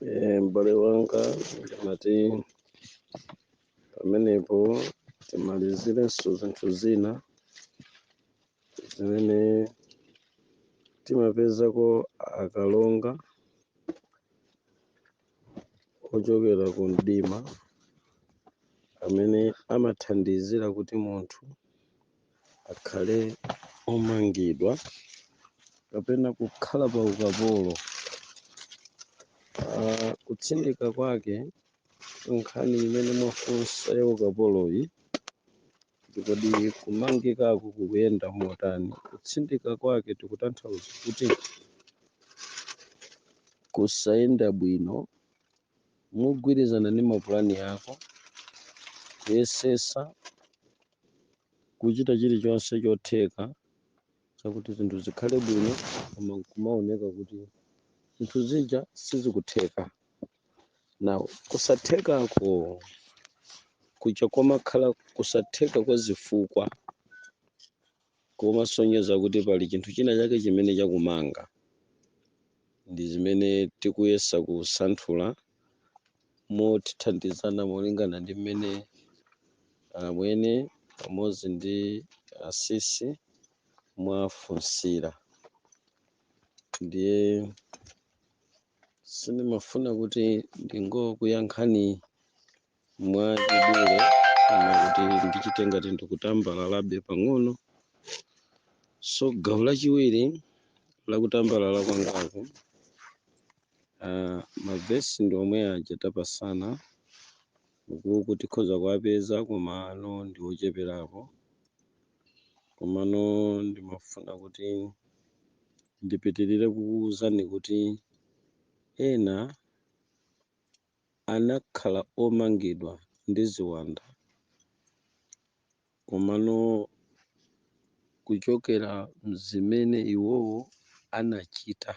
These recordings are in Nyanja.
Eh, m'bale wanga ndimati pamenepo timalizirenso zinthu zina zimene timapezako akalonga ochokera ku mdima amene amathandizira kuti munthu akhale omangidwa kapena kukhala pa ukapolo. Uh, kutsindika kwake nkhani imene mwafunsa ya ukapoloyi ndikodi kumangikako kukuyenda motani? Kutsindika kwake tikutanthauza kuti kusayenda bwino mogwirizana ndi mapulani ako, kuyesesa kuchita chilichonse chotheka chakuti zinthu zikhale bwino koma nkumaoneka kuti zinthu zija sizikutheka now kusathekako kuja komakhala kusatheka kwa zifukwa komasonyeza kuti pali chinthu china chake chimene chakumanga. Ndi zimene tikuyesa kusanthula mothandizana molingana ndi mmene amwene pamodzi ndi asisi mwafunsira. Ndiye sindimafuna kuti ndingokuyankhani mwa chidule koma kuti ndichite ngati ndikutambalalabe pang'ono so gawo lachiwiri lakutambalala kwangaku uh, mavesi ndi omwe aja tapasana ukuku tikhoza kuwapeza komano ndi ocheperapo komano ndimafuna kuti ndipitirire kukuwuzani kuti ena anakhala omangidwa ndi ziwanda, komano kuchokera m'zimene iwowo anachita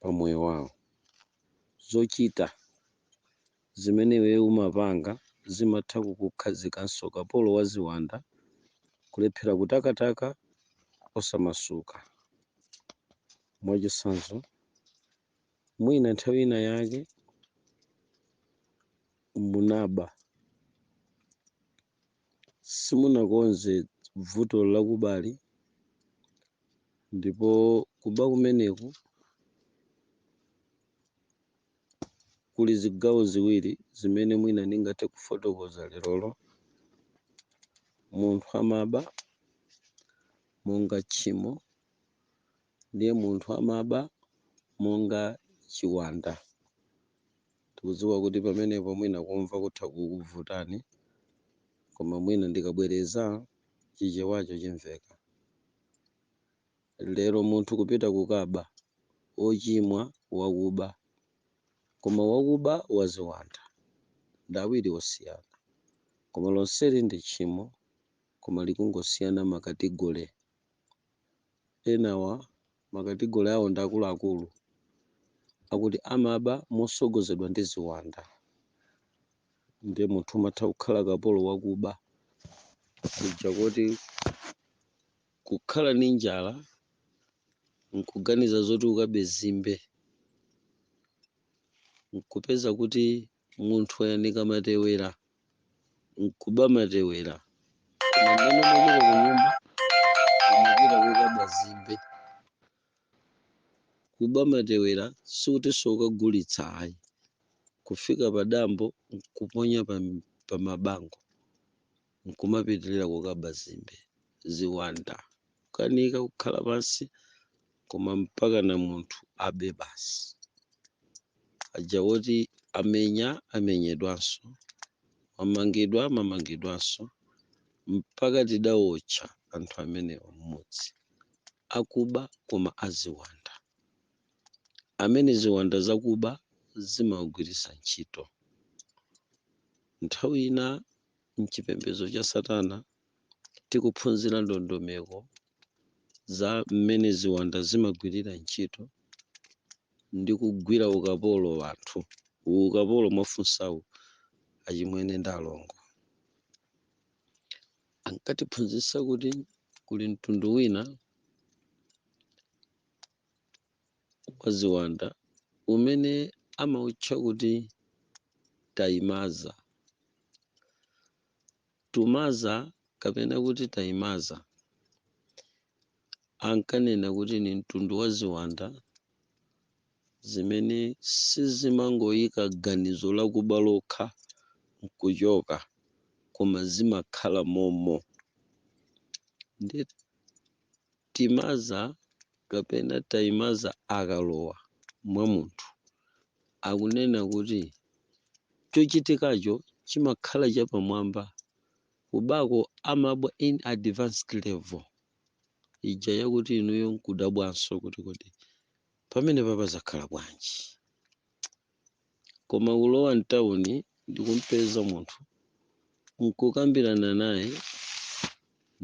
pa moyo wawo, zochita zimene iweyo umapanga zimatha kukukhazikanso kapolo wa ziwanda, kulephera kutakataka osamasuka. Mwachitsanzo. Mwina nthawi ina yake munaba, simunakonze vuto lakubali, ndipo kuba kumeneku kuli zigawo ziwiri zimene mwina ndingathe kufotokoza lerolo. Munthu amaba monga tchimo ndiye munthu amaba monga chiwanda. Tikudziwa kuti pamenepo mwina kumva kutha kukuvutani, koma mwina ndikabwereza chichewacho chimveka. Lero munthu kupita kukaba, ochimwa, wakuba, koma wakuba waziwanda ndi awiri osiyana koma lonseli ndi tchimo koma likungosiyana makategole. enawa makategole awo ndi akuluakulu akuti amaba mosogozedwa ndi ziwanda ndiye munthu umatha kukhala kapolo wakuba kuja kuti kukhala ndi njala nkuganiza zoti ukabe zimbe nkupeza kuti munthu ayanika matewera nkuba matewera koma mmene umachita ku nyumba umapita kukaba zimbe kuba matewera sikutinso ukagulitsa ayi kufika pa dambo nkuponya pa mabango nkumapitilira kukaba zimbe, ziwanda, kukanika kukhala pansi koma mpakana munthu abe basi. Aja woti amenya amenyedwanso, amangidwa amangidwanso mpaka tidawotcha anthu amenewa mmudzi. Akuba koma aziwanda. Amene ziwanda zakuba zimawagwiritsa ntchito. Nthawi ina m'chipembedzo cha Satana, tikuphunzira ndondomeko za mmene ziwanda zimagwirira ntchito ndi kugwira ukapolo anthu. Ukapolo mwafunsawu, achimwene ndi alongo, ankatiphunzitsa kuti kuli mtundu wina wa ziwanda umene amautcha kuti Taimaza. Tumaza kapena kuti Taimaza ankanena kuti ni mtundu wa ziwanda zimene sizimangoyika ganizo lakuba lokha n'kuchoka koma zimakhala momo. Ndi timaza kapena taimaza akalowa mwa munthu, akunena kuti chochitikacho chimakhala chapamwamba, kubako amabwa in advanced level ija yakuti inuyo nkudabwanso kuti kodi pamenepapa zakhala bwanji? Koma kulowa m'tauni ndi kum'peza munthu, n'kukambirana naye,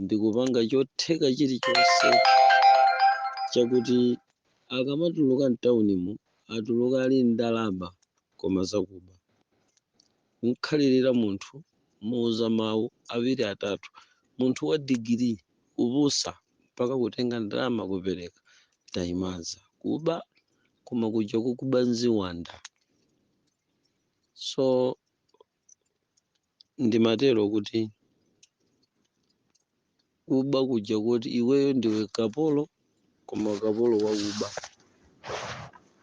ndi kupanga chotheka chilichonse chakuti akamatuluka m'taunimo atuluke ali ndi ndalama koma zakuba. Kum'khalirira munthu, kumuuza mawu awiri atatu. Munthu wa digiri, kupusa, mpaka kutenga ndalama kupereka. Tayimaza kuba! koma kuja kukuba nziwanda so ndimatero kuti kuba kuja kuti iweyo ndiwe kapolo koma kapolo wakuba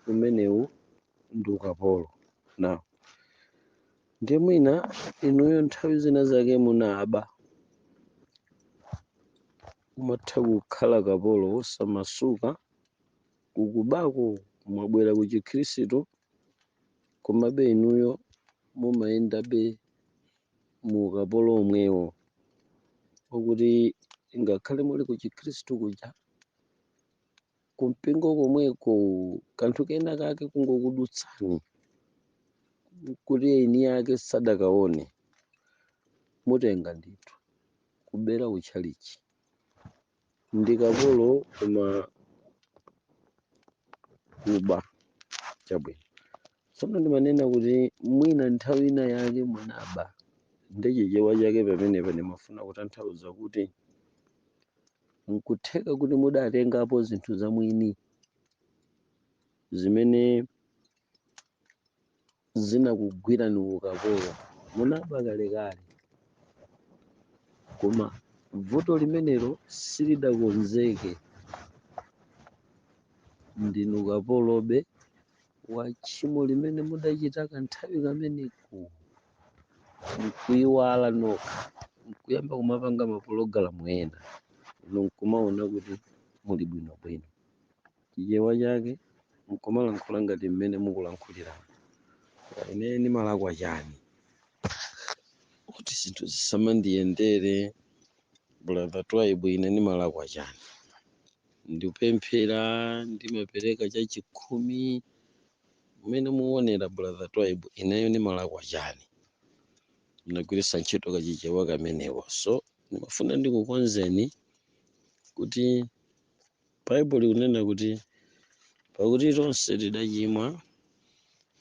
umenewu ndi ukapolo now ndiye mwina inuyo nthawi zina zake munaba umatha kukhala kapolo wosamasuka kukubako mwabwera ku chikhristu komabe inuyo mumayendabe mu ukapolo womwewo wakuti ngakhale muli ku chikhristu kuja kumpingo komweko kanthu kena kake kungokudutsani kuti eni yake sadakaone mutenga ndithu kubera utchalichi ndi ukapolo koma kuba chabwino tsono ndimanena kuti mwina nthawi ina yake munaba ndi chichewa chake pamenepa ndimafuna kutanthauza kuti nkutheka kuti mudatengapo zinthu za mwini zimene zinakugwirani ukapolo munaba kalekale koma vuto limenelo silidakonzeke ndinu kapolobe wa tchimo limene mudachita kanthawi kameneko nkuiwala nokha nkuyamba kumapanga mapologalamu ena inu nkumaona kuti muli bwinobwino Chichewa chake nkumalankhula ngati mmene mukulankhuliramu ineyo ndimalakwa chani kuti zinthu zisamandiyendere brother twaibu ine ndimalakwa chani ndikupemphera ndimapereka chachikhumi mmene muonera brother twaibu ineyo ndimalakwa chani ndagwiritsa ntchito kachichewa kameneko so ndimafuna ndikukonzeni kuti Baibulo likunena kuti, Pakuti tonse tidachimwa,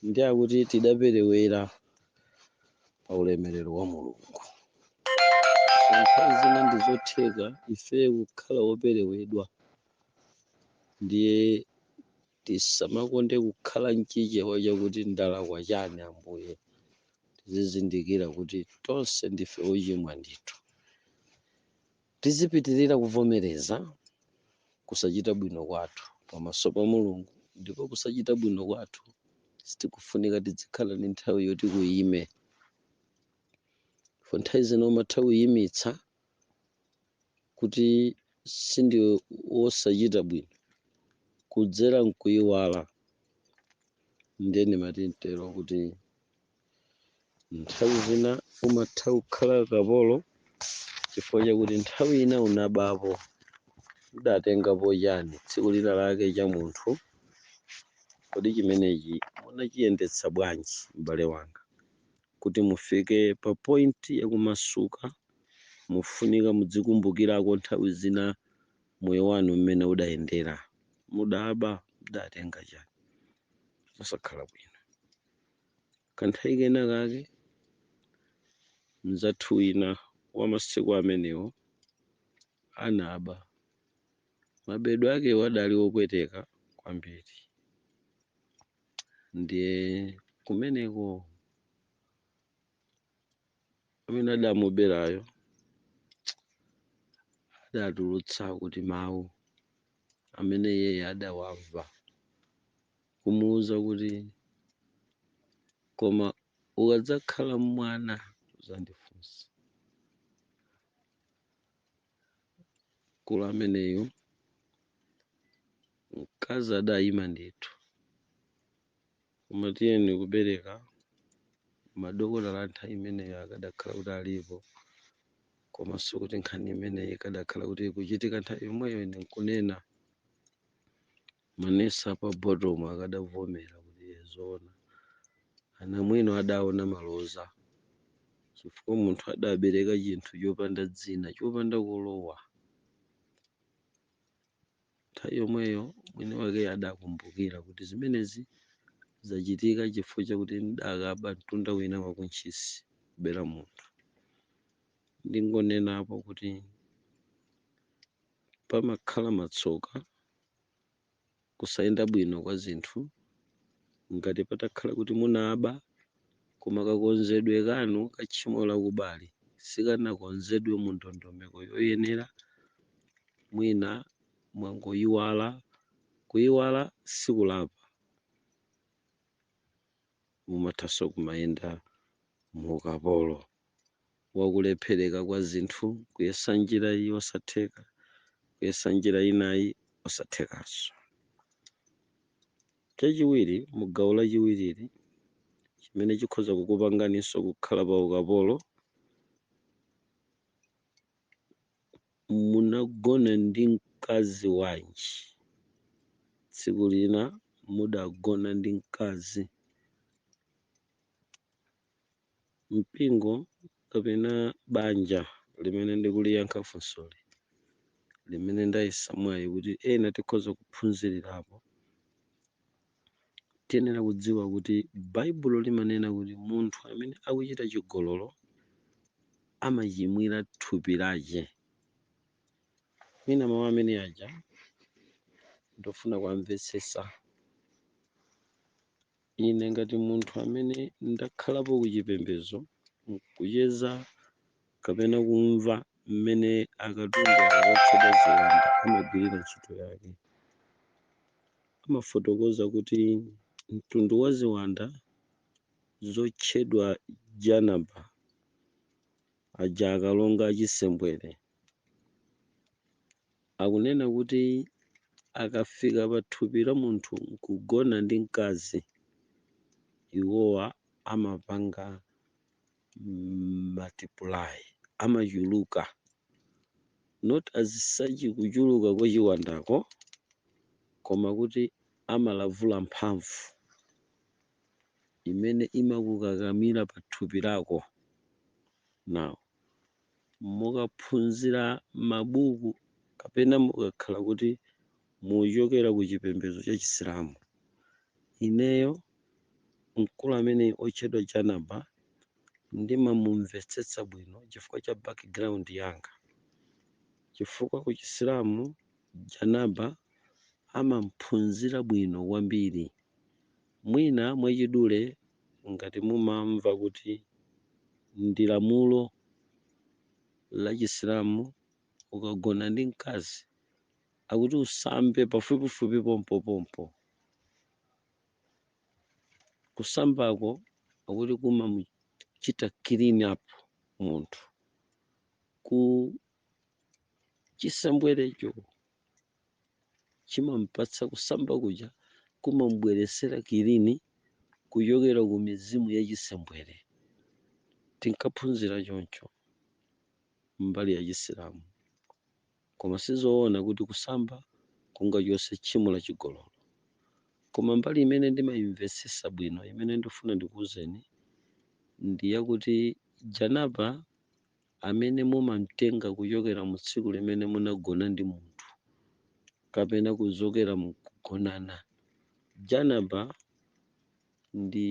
ndiyakuti tidaperewera pa ulemerero wa Mulungu. So nthawi zina ndi zotheka ife kukhala woperewedwa, ndiye tisamakonde kukhala mchichewa chakuti ndalakwa chani Ambuye. Tizizindikira kuti tonse ndife ochimwa ndithu. Tizipitirira kuvomereza kusachita bwino kwathu pamaso pa Mulungu ndipo kusachita bwino kwathu sitikufunika tizikhala ndi nthawi yoti kuyime. Ndipo nthawi zina umatha kuyimitsa kuti sindiwe wosachita bwino kudzera nkuyiwala. Ndiye ndimati nditero kuti. Nthawi zina umatha kukhala kapolo chifukwa chakuti nthawi ina unabapo. Mudatengapo chani tsiku lina lake cha munthu? Kodi chimenechi munachiyendetsa bwanji m'bale wanga? Kuti mufike pa point yakumasuka mufunika mudzikumbukirako nthawi zina moyo wanu mmene udayendera. Mudaba? Mudatenga chani? Zosakhala bwino. Kanthawi kena kake, mnzathu wina wa masiku amenewo anaba. Mabedwe akewo adali opweteka kwambiri. Ndiye kumeneko. amene adamuberayo adatulutsa kuti mawu amene iyeyo adawamva kumuwuza kuti koma ukadzakhala mwana uzandifunsa mkulu ameneyo mkazi adayima ndithu Koma tiyeni kubereka madokotala nthawi imeneyo akadakhala kuti alipo komanso kuti nkhani imeneyi ikadakhala kuti ikuchitika nthawi yomweyo ine nkunena manesi a pa Bottom akadavomera kuti "Eh, zoona anamwino adaona maloza chifukwa munthu adabereka chinthu chopanda dzina chopanda kulowa Nthawi yomweyo mwiniwake adakumbukira kuti zimenezi zachitika chifukwa chakuti ndidakaba mtunda wina wa ku Ntchisi, kubera munthu. Ndingonenapo kuti pamakhala matsoka, kusayenda bwino kwa zinthu, ngati patakhala kuti munaba. Koma kakonzedwe kanu ka tchimo la kubali sikanakonzedwe mu ndondomeko yoyenera, mwina mwangoyiwala. Kuyiwala sikulapa. Umathanso kumayenda mu ukapolo. wa kulephereka kwa zinthu, kuyesa njira iyi osatheka, kuyesa njira inayi osathekanso. Chachiwiri, mu gawo lachiwirili, chimene chikhoza kukupanganinso kukhala pa ukapolo, munagona ndi mkazi wanji? Tsiku lina mudagona ndi mkazi Mpingo kapena banja limene ndikuliyankha funsoli, limene ndayesa mwayi kuti ena tikhoza kuphunzirirapo, tiyenera kudziwa kuti Baibulo limanena kuti munthu amene akuchita chigololo amachimwira thupi lake. Mwina mawu amene aja ndofuna kuwamvetsetsa. Ine ngati munthu amene ndakhalapo ku chipembedzo nkucheza kapena kumva mmene akatundu awa otchedwa ziwanda amagwirira ntchito yake, amafotokoza kuti mtundu wa ziwanda zotchedwa janaba, aja akalonga achisembwere, Akunena kuti akafika pathupi la munthu n'kugona ndi mkazi, iwowa amapanga multiply, amachuluka, not as such kuchuluka kwa chiwandako, koma kuti amalavula mphamvu imene imakukakamira pathupi lako. Now. mukaphunzira mabuku kapena mukakhala kuti muchokera ku chipembedzo cha chisilamu ineyo mkulu amene otchedwa janaba ndimamumvetsetsa bwino chifukwa cha background yanga chifukwa ku chisilamu janaba amamphunzira bwino kwambiri Mwina mwachidule ngati mumamva kuti ndi lamulo la chisilamu ukagona ndi mkazi akuti usambe pafupifupi pompopompo. Kusambako akuti kumamuchita clean up munthu ku chisembwerecho. chimampatsa kusamba kuja kumambweresera kilini kuchokera ku mizimu ya chisembwere tinkaphunzira choncho mbali ya chisilamu koma sizoona kuti kusamba kungachotse tchimo la chigololo koma mbali imene ndimayimvetsesa bwino imene ndifuna ndikuwuzeni ndi yakuti janaba amene mumamtenga kuchokera mu tsiku limene munagona ndi munthu kapena kuchokera mu kugonana. Janaba ndi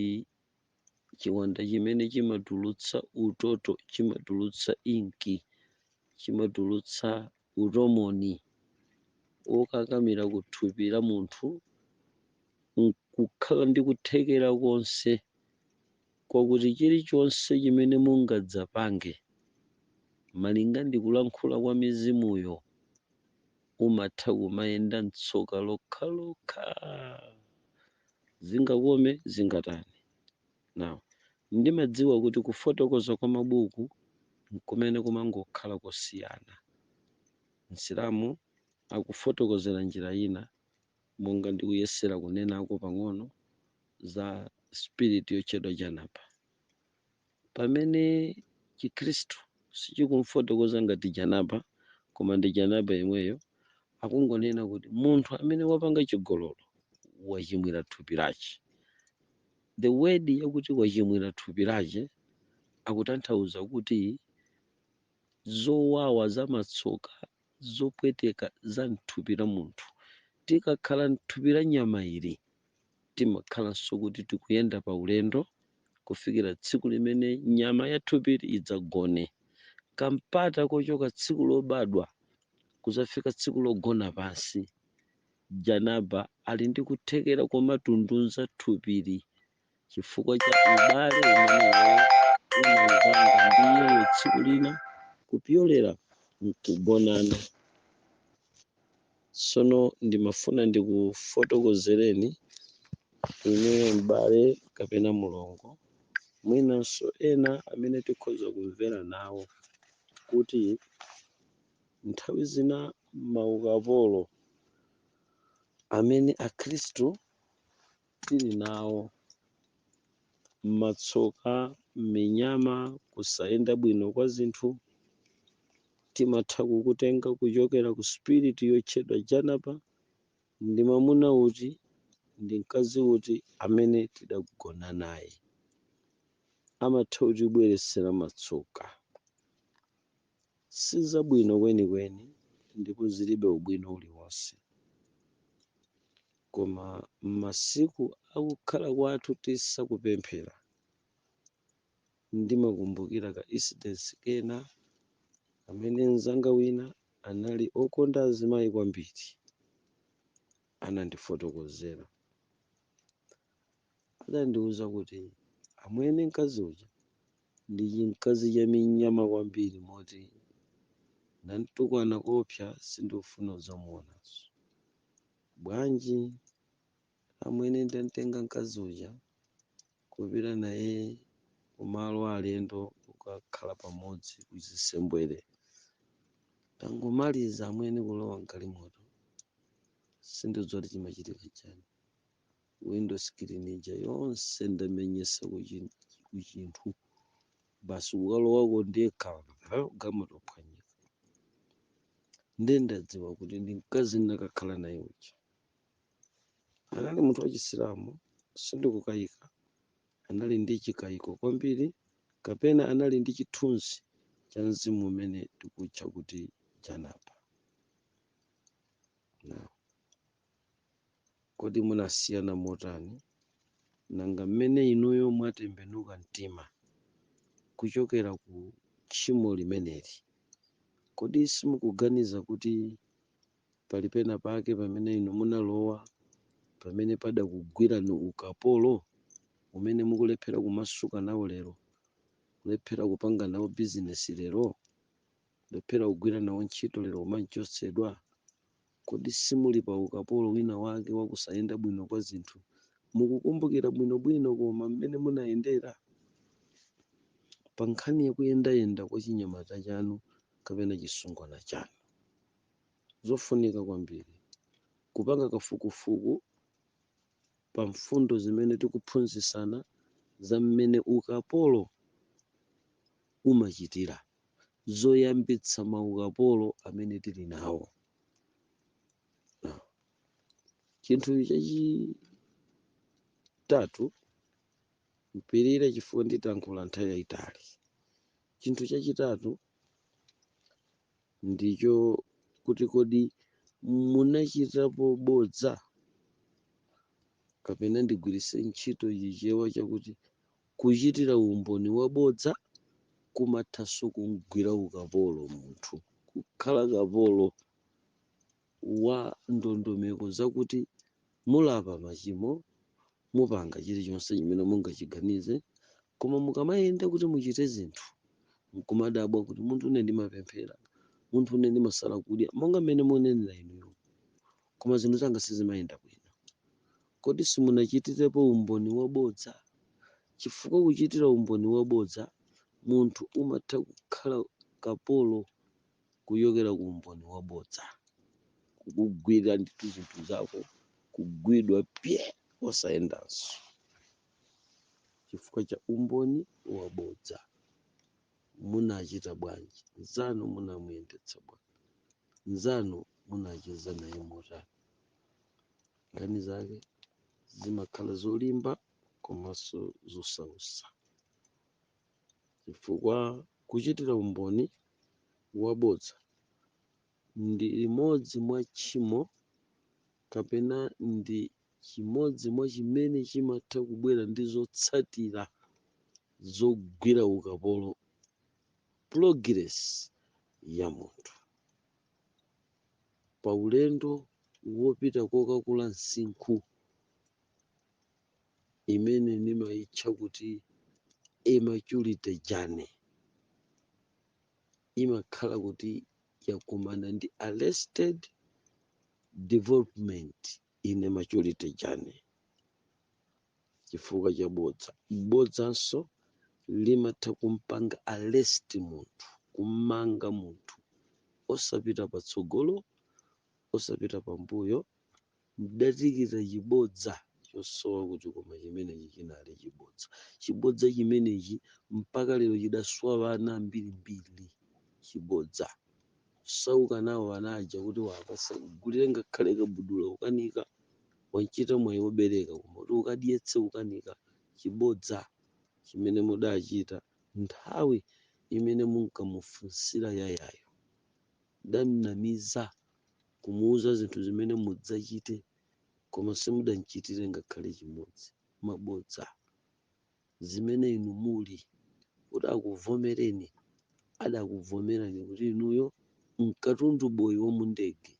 chiwanda chimene chimatulutsa utoto, chimatulutsa inki, chimatulutsa utomoni wokakamira ku thupi la munthu nkukhala ndi kuthekera konse kwakuti chirichonse chimene mungadzapange malinga ndi kulankhula kwa mizimuyo umatha kumayenda m'tsoka lokhalokha, zingakome zingatani. Now, ndimadziwa kuti kufotokoza kwa mabuku nkumene kumangokhala kosiyana. Msilamu akufotokozera njira ina. monga ndikuyesera kunenako pang'ono za spirit yotchedwa Janaba. Pamene Chikhristu sichikumfotokoza ngati Janaba, koma ndi Janaba yemweyo, akungonena kuti munthu amene wapanga chigololo wachimwira thupi lache. The word yakuti wachimwira thupi lache akutanthauza kuti zowawa za matsoka zopweteka za mthupi la munthu. Tikakhala mthupi la nyama ili, timakhalanso kuti tikuyenda pa ulendo kufikira tsiku limene nyama ya thupili idzagone. Kampata kochoka tsiku lobadwa kuzafika tsiku logona pansi, Janaba ali ndi kuthekera komatunduza thupili. chifukwa cha ubale umene iweyo unawupanga ndi iyeyo tsiku lina kupyolera mkugonana. Tsono ndimafuna ndikufotokozereni inuyo m'bale kapena mlongo, mwinanso ena amene tikhoza kumvera nawo, kuti nthawi zina maukapolo amene Akhristu. tili nawo. Matsoka, minyama, kusayenda bwino kwa zinthu, timatha kukutenga kuchokera ku spirit yotchedwa Janaba, ndi mamuna uti ndi mkazi uti amene tidagona naye. Amatha kutibweretsera matsoka. Sizabwino kwenikweni ndipo zilibe ubwino uliwonse. Koma m'masiku a kukhala kwathu tisakupemphera, ndimakumbukira ka incidence kena kamene mzanga wina anali okonda azimayi kwambiri anandifotokozera. Adandiuza kuti, Amwene mkazi uja ndi chimkazi cha minyama kwambiri moti ndamtukwana koopsa sindikufuna kudzamuonanso. Bwanji, amwene, ndamtenga mkazi uja kupita naye ku malo a alendo kukakhala pamodzi kuchisembwere. Tangomaliza, amwene, kulowa mgalimoto. Sindikudziwa kuti chimachitika nchani. window screen ija yonse ndamenyetsa kuchin- kuchinthu basi kukalowako ndekha galimoto phwanyika nde ndadziwa kuti ndi mkazi ndakakhala naye uja anali munthu wachisilamu sindikukayika anali ndi chikayiko kwambiri kapena anali ndi chithunzi cha mzimu umene tikutcha kuti janaba Now, Kodi munasiyana motani? Nanga mmene inuyo mwatembenuka mtima kuchokera ku tchimo limeneli, kodi simukuganiza kuti pali penapake pamene inu munalowa pamene padakugwirani ukapolo umene mukulephera kumasuka nawo lero, kulephera kupanga nawo bizinesi lero, kulephera kugwira nawo ntchito lero kumachotsedwa? Kodi simuli pa ukapolo wina wake wa kusayenda bwino kwa zinthu? Mukukumbukira bwino bwino koma m'mene munayendera? Pa nkhani ya kuyenda yenda kwa chinyamata chanu kapena chisungwana chanu? Zofunika kwambiri, Kupanga kafukufuku pa mfundo zimene tikuphunzitsana za m'mene ukapolo umachitira. zoyambitsa maukapolo amene tili nawo. Ah. Chinthu chachitatu, mupirire chifukwa nditayankhule nthawi yayitali. Chinthu chachitatu ndicho kuti kodi munachitapo bodza kapena ndigwiritse ntchito chichewa chakuti Kuchitira umboni wabodza kumathanso kum'gwira ukapolo munthu, kukhala kapolo wa ndondomeko zakuti mulapa machimo, mupanga chilichonse chimene mungachiganize, koma mukamayenda kuti muchite zinthu n'kumadabwa kuti, Munthu une ndimapemphera, munthu une ndimasala kudya, monga mmene munenera inuyo, koma zinthu zanga sizimayenda bwino. Kodi simunachitirepo umboni wabodza? Chifukwa kuchitira umboni wabodza munthu umatha kukhala kapolo kuchokera ku umboni wabodza. Kukugwira ndithu zinthu zako, kugwidwa pye! Osayendanso chifukwa cha umboni wabodza. Munachita bwanji? Mnzanu munamuyendetsa bwanji? Mnzanu munacheza naye motani? nkhani zake zimakhala zolimba komanso zosautsa chifukwa kuchitira umboni wabodza ndi limodzi mwa tchimo kapena ndi chimodzi mwa chimene chimatha kubwera ndi zotsatira zogwira ukapolo progress ya munthu pa ulendo wopita kokakula msinkhu imene nimaitcha kuti a maturity journey imakhala kuti yakumana ndi arrested development in a maturity journey. chifukwa cha bodza. Bodzanso limatha kumpanga arrest munthu, kum'manga munthu osapita patsogolo, osapita pambuyo. Mdatikita chibodza chosowa kuti koma chimenechi chinali chibodza. Chibodza chimenechi mpaka lero chidaswa ana ambirimbiri. Chibodza kusauka nawo ana aja kuti apasukulu wagulire ngakhale kabudula kukanika. Wachita mwayi wobereka, koma kuti ukadyetse kukanika chibodza chimene mudachita nthawi imene munkamufunsira Yayayo. Mdamnamiza, kumuuza zinthu zimene mudzachite, koma simudamchitire ngakhale chimodzi. Mabodza! Zimene inu muli, kuti akuvomereni, adakuvomerani kuti inuyo nkatundu boyi womundege.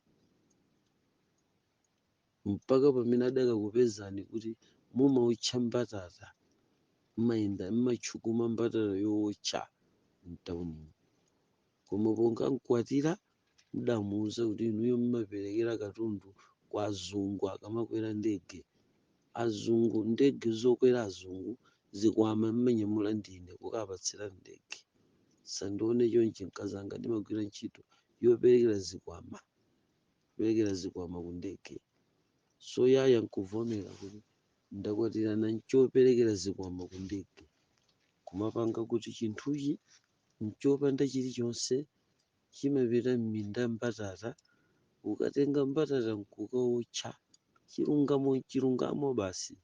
mpaka pamene adakakupezani kuti mumaotcha mbatata, mmayenda, mmatchukuma mbatata yootcha mtaunimu. Koma ponkamkwatira mudamuuza kuti inuyo mmaperekera katundu kwa azungu akamakwera ndege. Azungu, ndege zokwera azungu, zikwama mmanyamula ndine kukapatsira ndege. Sandione chonchi mkazanga ndimagwira ntchito yoperekera zikwama. kuperekera zikwama ku ndege. So yaya nkuvomera kuti, Ndakwatirana nchoperekera zikwama ku ndege. Kumapanga kuti chinthuchi nchopanda chilichonse chimapita m'minda mbatata ukatenga mbatata nkukaotcha. Chilungamo nchilungamo basi.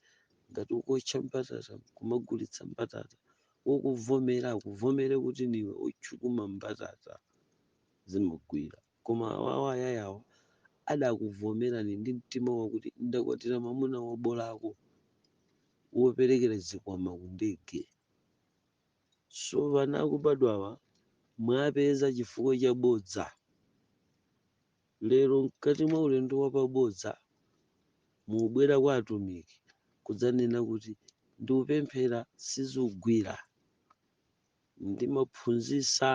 Ngati ukuotcha mbatata nkumagulitsa mbatata, wokuvomera akuvomere kuti ndiwe otchukuma mbatata. Zimagwira. Koma awawa ayayawa adakuvomerani ndi mtima wakuti ndakwatira mamuna wobolako, woperekera zikwama ku ndege. So vana akubadwawa mwapeza chifukwa cha bodza. Lero mkati mwa ulendo wa pa bodza mubwera kwa atumiki kudzanena kuti ndikupemphera sizugwira. Ndimaphunzisa.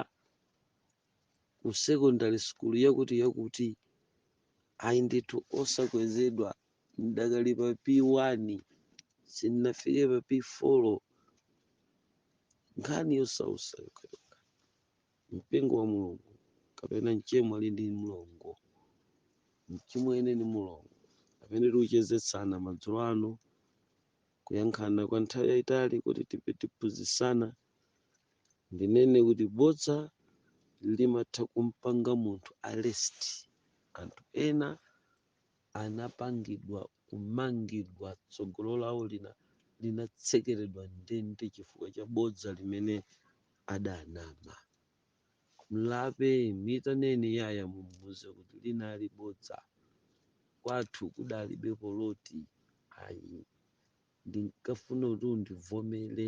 ku secondary school yakuti yakuti ayi ndithu osakwezedwa ndidakali pa p1 sindinafike pa p4 nkhani yosausa yokhayokha mpingo wa mulungu kapena mchemwe ali ndi mlongo mchimwene ndi mulongo amene tikuchezetsana madzulo ano kuyankhana kwa nthawi yayitali kuti tiphunzitsana ndinene kuti bodza limatha kumpanga munthu arrest anthu ena anapangidwa kumangidwa tsogolo lawo linatsekeredwa ndende chifukwa cha bodza limene adanama mlape mitaneni yaya mumuuze kuti linali bodza kwathu kudalibe poloti ayi ndinkafuna kuti undivomere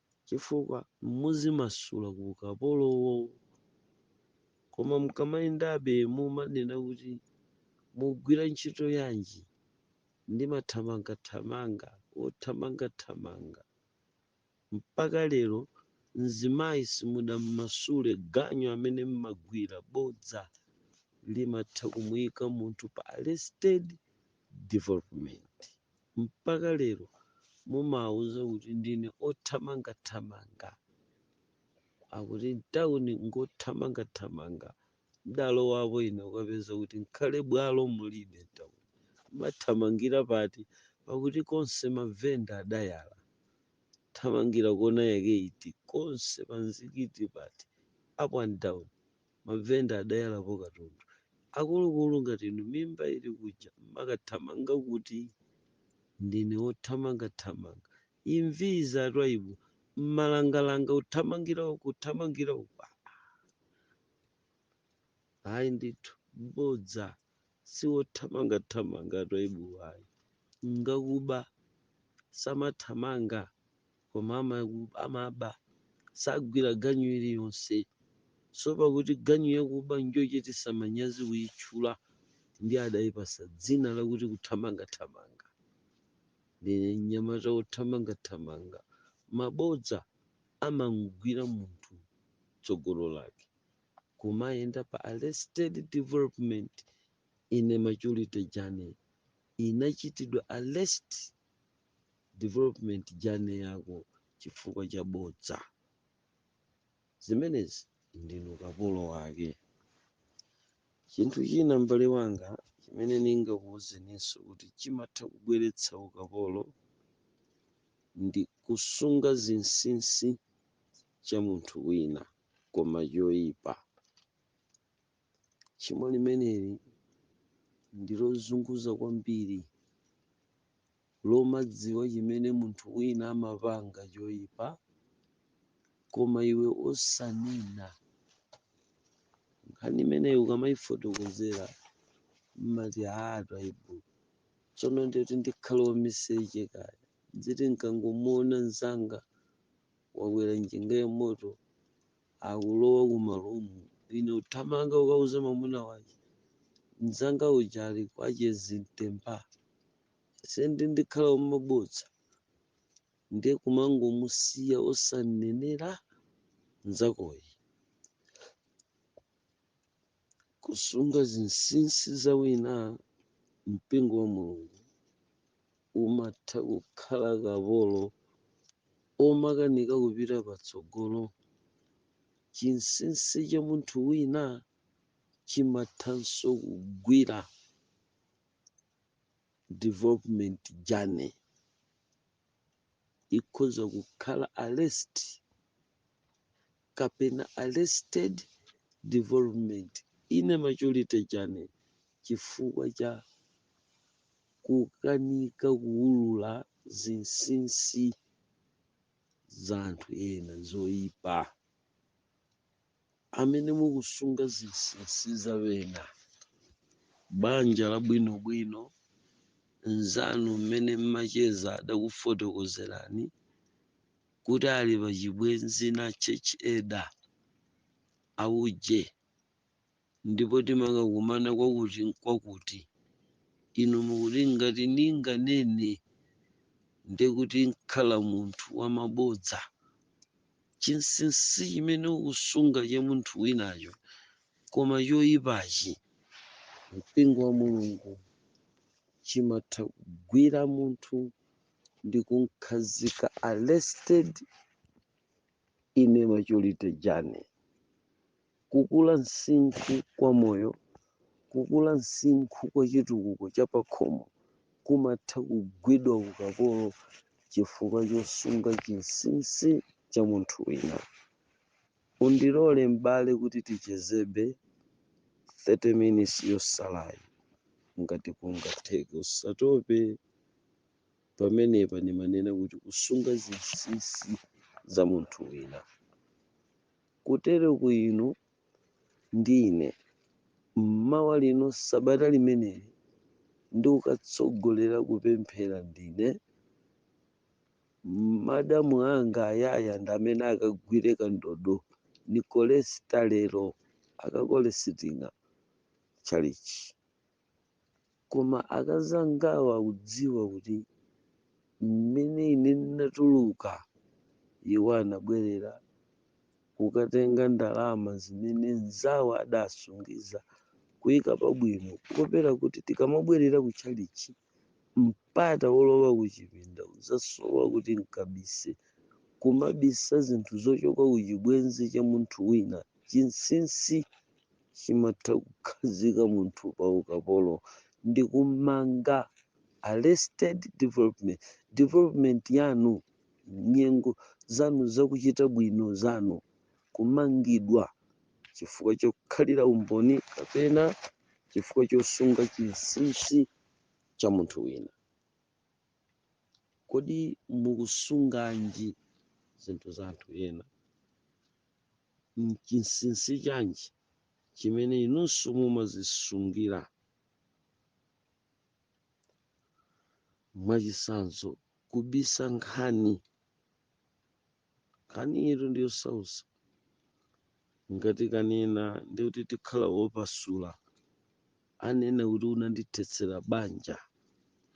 chifukwa muzimasula ku ukapolowo. Koma mukamayendabe mumanena kuti, Mugwira ntchito yanji? Ndimathamangathamanga, wothamangathamanga. Mpaka lero mzimayi simudamumasule, ganyu amene m'magwira. Bodza limatha kumuika munthu pa arrested development. Mpaka lero mumawauza kuti ndine othamangathamanga. Akuti m'town ngothamangathamanga. Ndalowapo ine kukapeza kuti nkhale bwalo mulibe m'town. Mmathamangira pati? Pakuti konse mavenda adayala. Thamangira kona yake iti? Konse panzikiti pati? Up and down. Mavenda adayalapo katundu. Akulukulu ngati inu mimba ili kuja mmakathamanga kuti? Ndine wothamanga thamanga. Imvi izi a Twaibu, mmalangalanga kuthamangira uku kuthamangira uku aa! Ayi ndithu bodza. Siwothamanga thamanga a Twaibuwa ayi. Ngakuba samathamanga. koma amaba sagwira ganyu iliyonse so pakuti ganyu yakuba njochitisa manyazi kuyitchula ndi adayipasa dzina lakuti kuthamangathamanga ndine mnyamata wothamangathamanga mabodza amamgwira munthu tsogolo lake kumayenda pa arrested development in a maturity journey inachitidwa arrest development journey yako chifukwa cha bodza zimenezi ndinu kapolo wake chinthu china m'bale wanga chimene ndingakuwuzeninso kuti chimatha kubweretsa ukapolo ndi kusunga chinsinsi cha munthu wina koma choyipa Tchimo limeneli ndi lozunguza kwambiri, lomadziwa chimene munthu wina amapanga choipa, koma iwe osanena. Nkhani imeneyi ukamaifotokozera mmati haa a Twaibu, tsono nditi ndikhale wamiseche kaya, ndiziti nkangomuona mzanga wakwera njinga ya moto akulowa ku ma room, ine kuthamanga kukauza mwamuna wake, mzanga uja ali kwa chezi mtemba, si ndiye ndikhala wamabodza, ndiye kumangomusiya osanenera mzakoyi. kusunga zinsinsi za wina mpingo wa mulungu umatha kukhala kapolo omakanika kupita patsogolo chinsinsi cha munthu wina chimathanso kugwira development journey ikhoza kukhala arrest kapena arrested development in a maturity journey chifukwa cha kukanika kuulula zinsinsi za anthu ena zoipa amene mukusunga zinsinsi za ena banja labwinobwino nzanu amene mmacheza adakufotokozerani kuti ali pa chibwenzi na Church Elder, auje, ndipo timakakumana kwakutikwakuti. Inu mukuti, Ngati ninganene, ndiye kuti nkhala munthu wa mabodza. Chinsinsi chimene ukusunga cha munthu winacho, koma choipachi, mpingo wa Mulungu, chimatha kugwira munthu ndikumkhazika arrested in a maturity journey kukula msinkhu kwa moyo kukula msinkhu kwa chitukuko cha pakhomo kumatha kugwidwa ukapolo chifukwa chosunga chinsinsi cha munthu wina Undilole m'bale kuti tichezebe 30 minutes yotsalayi ngati kungatheke. Usatope pamenepa ndikamanena kuti kusunga zinsinsi za munthu wina. Kutereku inu ndi ine m'mawa lino sabata limeneli ndikukatsogolera kupemphera ndine. Madamu anga ayaya ndi amene akagwire kandodo ndi kolesita lero akakolesiting'a tchalitchi koma akazangawo akudziwa kuti mmene ine ndinatuluka iwo anabwerera kukatenga ndalama zimene nzawo adasungiza kuika pabwino kuopera kuti tikamabwerera ku tchalitchi Mpata wolowa kuchipinda udzasowa kuti n'kabise, kumabisa zinthu zochoka ku chibwenzi cha munthu wina. Chinsinsi chimatha kukhazika munthu pa ukapolo ndi kum'manga, arrested development, development yanu, nyengo zanu za kuchita bwino zanu. kumangidwa chifukwa chokhalira umboni kapena chifukwa chosunga chinsinsi cha munthu wina. Kodi mukusunganji zinthu za anthu ena? N'chinsinsi chanji chimene inunso mumadzisungira? Mwachitsanzo, kubisa nkhani Nkhaniyitu ndi yosautsa. Ndikanena ndiye kuti ndikhala wopasula. Anena kuti unandithetsera banja.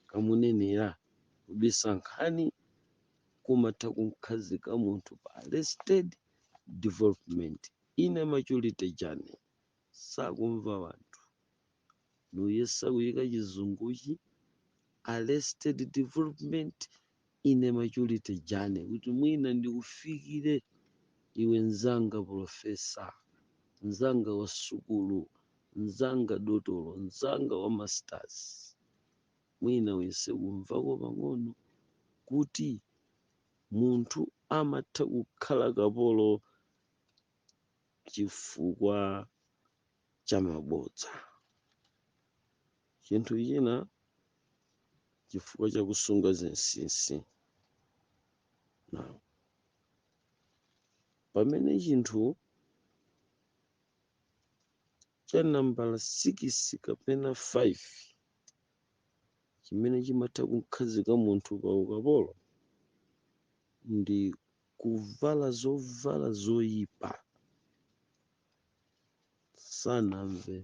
Kamunenera kubisa nkhani kumatha kumkhazika munthu pa arrested development in a maturity journey. Sakumva wanthu. ndiyesa kuyika chizunguchi arrested development in a maturity journey kuti mwina ndikufikire iwe mzanga professor mzanga wa sukulu mzanga dotolo mzanga wa masters mwina uyese kumvako pang'ono kuti munthu amatha kukhala kapolo chifukwa cha mabodza. Chinthu china, chifukwa cha kusunga zinsinsi. Now, pamene chinthu cha nambala 6 kapena 5 chimene chimatha kumkhazika munthu pa ukapolo ndi kuvala zovala zoyipa sanamve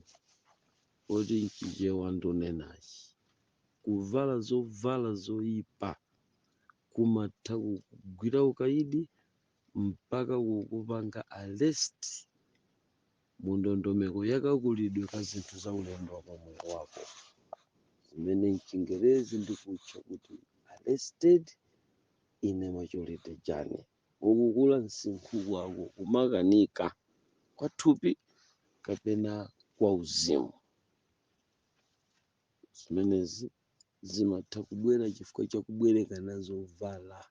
kuti nchichewa ndunenachi kuvala zovala zoipa kumatha kukugwira ukaidi mpaka kukupanga arrest mundondomeko yakakulidwe ka zinthu za ulendo wa pamoyo wako zimene mchingerezi ndikutcha kuti arrested in a maturity journey kukula msinkhu kwako kumakanika kwa thupi kapena kwa uzimu. Zimenezi zimatha kubwera chifukwa cha kubwerekana zovala.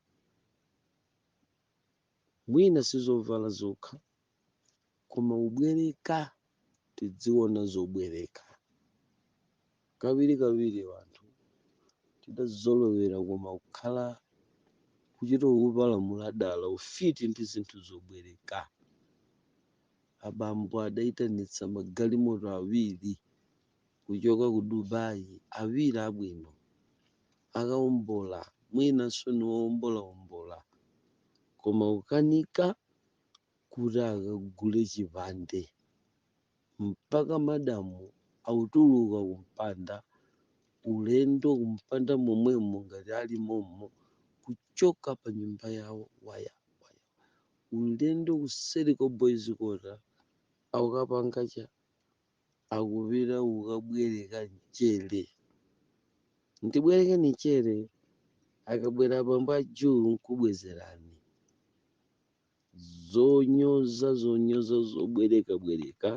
Mwina si zovala zokha, koma kubwereka tidziona zobwereka kawiri kawiri wanthu tidazolowera koma kukhala kuchita kupalamula dala ufiti ndi zinthu zobwereka abambo adaitanitsa magalimoto awiri kuchoka ku dubai awiri abwino akaombola mwinanso ndi oombolaombola koma ukanika kuti akagule chipande mpaka madamu akutuluka kumpanda ulendo kumpanda momwemo ngati ali mommo kuchoka pa nyumba yawo waya waya ulendo kuseri kwa boys quarter akukapanga cha akupita kukabwereka mchere. Ndibwerekeni mchere, akabwera bambo a Julu nkubwezerani. Zonyoza zonyoza zobwerekabwereka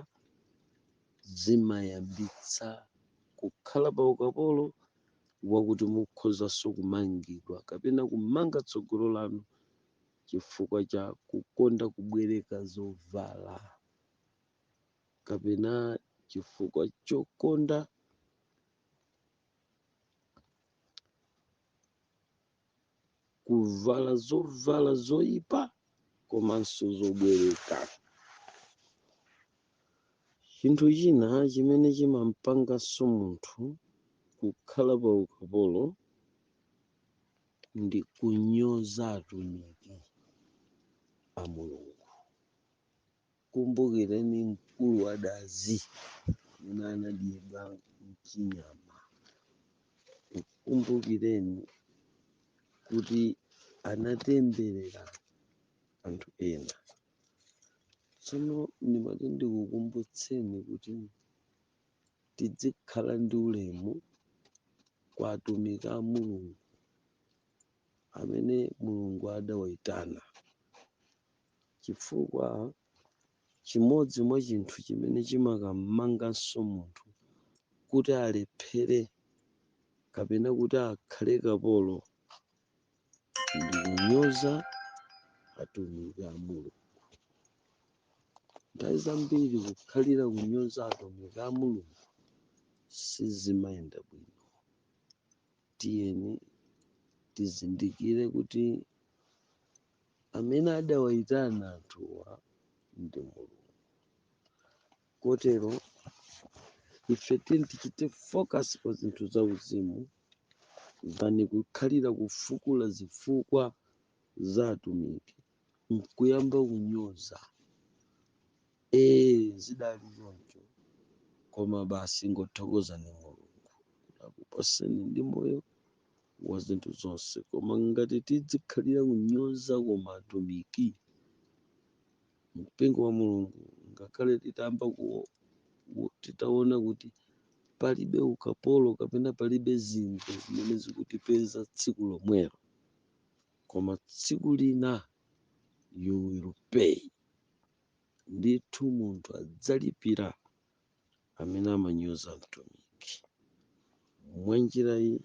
zimayambitsa kukhala pa ukapolo wakuti mukhozanso kumangidwa kapena kumanga tsogolo lanu chifukwa cha kukonda kubwereka zovala. kapena chifukwa chokonda kuvala zovala zoyipa komanso zobwereka chinthu china chimene chimampanganso munthu kukhala pa ukapolo ndi kunyoza atumiki a mulungu Kumbukireni mkulu wa dazi amene anadyedwa mchinyama. Kumbukireni kuti anatemberera anthu ena. Tsono ndimati ndikukumbutseni kuti tidzikhala ndi ulemu kwa atumiki a Mulungu amene Mulungu adawaitana. chifukwa chimodzi mwa chinthu chimene chimakammanganso munthu kuti alephere kapena kuti akhale kapolo ndi kunyoza atumiki a Mulungu. Nthawi zambiri kukhalira kunyoza atumiki a Mulungu sizimayenda bwino. Tiyeni tizindikire kuti amene adawayitana anthuwa ndi mulungu kotero ife tiyeni tichite focus pa zinthu za uzimu than kukhalira kufukula zifukwa za atumiki nkuyamba kunyoza ee zidali choncho koma basi ngothokozani mulungu akupaseni ndi moyo wa zinthu zonse. Koma ngati tidzikhalira kunyoza koma atumiki mpingo wa Mulungu, ngakhale titayamba ku- ku- titaona kuti palibe ukapolo kapena palibe zinthu zimene zikutipeza tsiku lomwelo, koma tsiku lina you will pay. Ndithu munthu adzalipira amene amanyoza Mtumiki mwa njira iyi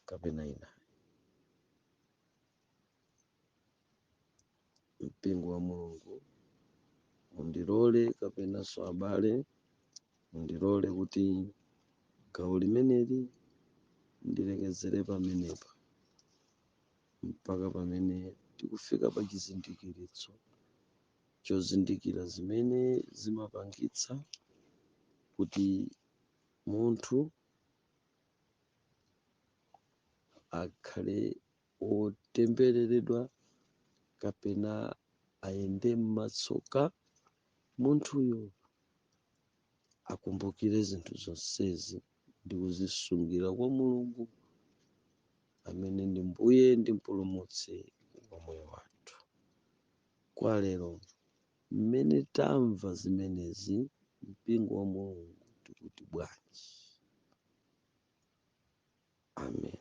kapena inayi. Mpingo wa Mulungu mundilole kapenanso abale mundilole kuti gawo limeneli ndilekezere pamenepa mpaka pamene tikufika pa chizindikiritso chozindikira zimene zimapangitsa kuti munthu akhale wotembereredwa kapena ayende m'matsoka munthuyo akumbukire zinthu zonsezi ndi kuzisungira kwa mulungu amene ndi mbuye ndi mpulumutsi wa moyo wathu kwa lero mmene tamva zimenezi mpingo wa mulungu tikuti bwanji amen